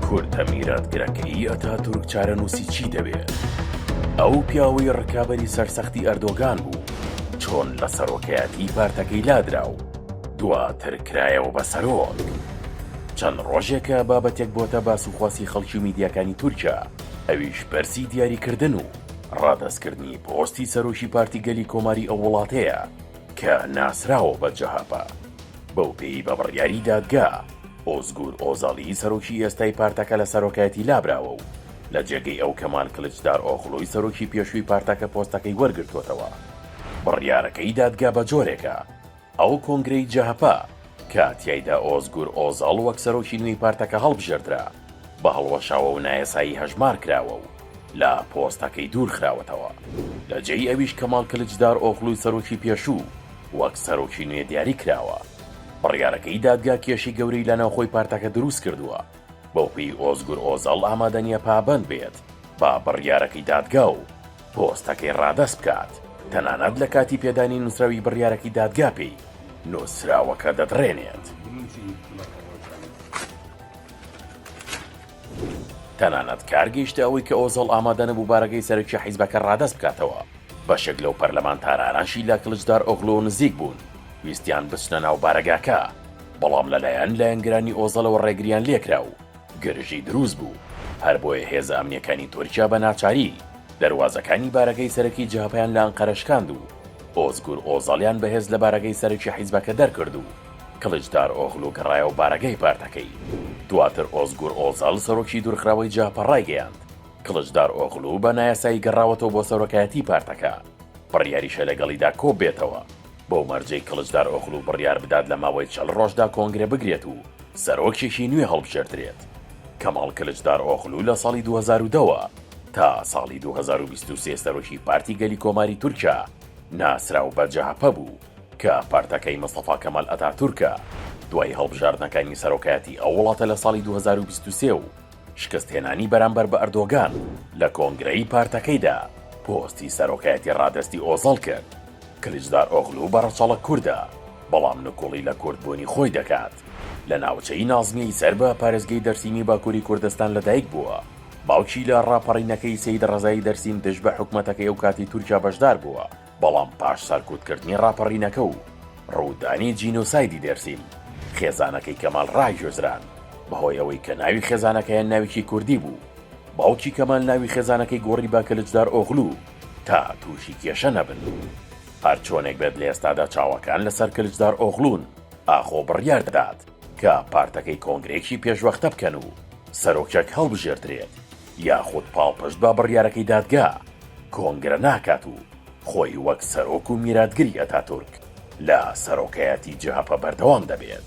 کورتە میراتگرەکەی ئەتاتورک چارەنووسی چی دەبێ؟ ئەو پیاوەی ڕکابەری سەرسەختی ئەردۆگان بوو چۆن لە سەرۆکایەتی پارتەکەی لادرا و دواتر کرایەوە بە سەرۆک؟ چەند ڕۆژێکە بابەتێک بۆتە باس و خواسی خەڵکی میدیاکانی تورکیا ئەویش پرسی دیاریکردن و ڕادەستکردنی پۆستی سەرۆکی پارتی گەلی کۆماری ئەو وڵاتەیە، کە ناسراوە بە جەهەپە، بەوپێی بە بڕیاری دادگا، ئۆزگور ئۆزالی سەرۆکی ئێستای پارتەکە لە سەرۆکایەتی لابراوە و لە جێگەی ئەو کەمال کلچدارئۆغلۆی سەرۆکی پێشووی پارتەکە پۆستەکەی وەرگرتووەتەوە. بڕیارەکەی دادگا بە جۆرێکە، ئەو کۆنگرەی جەهەپە کە تیایدا ئۆزگور ئۆزال وەک سەرۆکی نوێی پارتەکە هەڵبژێردرا، بە هەڵوەشاوە و نایەسایی هەژمار کراوە و لە پۆستەکەی دوور خراوەتەوە. لە جێی ئەویش کەمال کلچدار ئۆغلوی سەرۆکی پێشوو وەک سەرۆکی نوێ دیاری کراوە. بڕیارەکەی دادگا کێشی گەورەی لە ناوخۆی پارتەکە دروست کردووە، بەو پێی ئۆزگور ئۆزەڵ ئامادە نییە پابەند بێت بە بڕیارەکەی دادگا و پۆستەکەی ڕادەست بکات، تەنانەت لە کاتی پێدانی نووسراوی بڕیارەکەی دادگا پێی نووسراوەکە دەدڕێنێت. تەنانەت کار گەیشتە ئەوەی کە ئۆزەڵ ئامادە نەبوو بارەگەی سەرەکی حیزبەکە ڕادەست بکاتەوە، بەشێک لەو پەرلەمانتارانەشی لە کلچدارئۆغلۆ نزیک بوون ویستیان بچنە ناو بارەگاکە، بەڵام لەلایەن لایەنگرانی ئۆزەڵەوە ڕێگریان لێکرا و گرژی دروست بوو، هەر بۆیە هێزە ئەمنییەکانی تورکیا بە ناچاری دەروازەکانی بارەگەی سەرەکی جەهەپەیان لە ئەنقەرە شکاند و ئۆزگور ئۆزەڵیان بەهێز لە بارەگەی سەرەکی حیزبەکە دەرکرد و کڵیچدارئۆغلو گەڕایەوە بارەگای پارتەکەی. دواتر ئۆزگور ئۆزال سەرۆکی دوورخراوەی جەهەپە ڕایگەیاند، کڵچدارئۆغلو بە نایاسایی گەڕاوەتەوە بۆ سەرۆکایەتی پارتەکە، بڕیاریشە لەگەڵیدا کۆببێتەوە، بەو مەرجەی کڵچدارئۆغلو بڕیار بدات لە ماوەی چەل ڕۆژدا کۆنگرە بگرێت و سەرۆکێکی نوێ هەڵبژێردرێت. کەماڵ کلچدارئۆغلو لە ساڵی دوو هەزار و دە وە تا ساڵی دوو هەزار و بیست و سێ سەرۆکی پارتی گەلی کۆماری تورکیا ناسراو بە جەهەپە بوو. کە پارتەکەی مستەفا کەمال ئەتاتورکە، دوای هەڵبژاردنەکانی سەرۆکایەتی ئەو وڵاتە لە ساڵی دوو هەزار و بیست و سێ و شکستهێنانی بەرامبەر بە ئەردۆگان لە کۆنگرەی پارتەکەیدا، پۆستی سەرۆکایەتی ڕادەستی ئۆزەڵ کرد. کلیچدارئۆغلو بە ڕەچەڵەک کوردە، بەڵام نکوڵی لە کوردبوونی خۆی دەکات. لە ناوچەی نازمییەی سەر بە پارێزگەی دەرسیمی باکووری کوردستان لەدایک بووە. باوکی لە ڕاپەڕینەکەی سەیدڕەزای دەرسیم دژ بە حکومەتەکەی ئەوکاتی تورکیا بەشدار بووە. بەڵام پاش سەرکوتکردنی ڕاپەڕینەکە و ڕوودانی جینۆسایدی دێرسیم، خێزانەکەی کەمال ڕاگوێزران، بەهۆی ئەوەی کە ناوی خێزانەکەیان ناوێکی کوردی بوو، باوکی کەمال ناوی خێزانەکەی گۆڕی بە کلچدارئۆغلو تا تووشی کێشە نەبن. هەرچۆنێک بێت لە ئێستادا چاوەکان لەسەر کلچدارئۆغلون، ئاخۆ بڕیار دەدات کە پارتەکەی کۆنگرەیەکی پێشوەختە بکەن و سەرۆکێک هەڵبژێردرێت یاخود پاڵپشت بە بڕیارەکەی دادگا کۆنگرە ناکات و خۆی وەک سەرۆک و میراتگری ئەتاتورک لە سەرۆکایەتی جەهەپە بەردەوام دەبێت.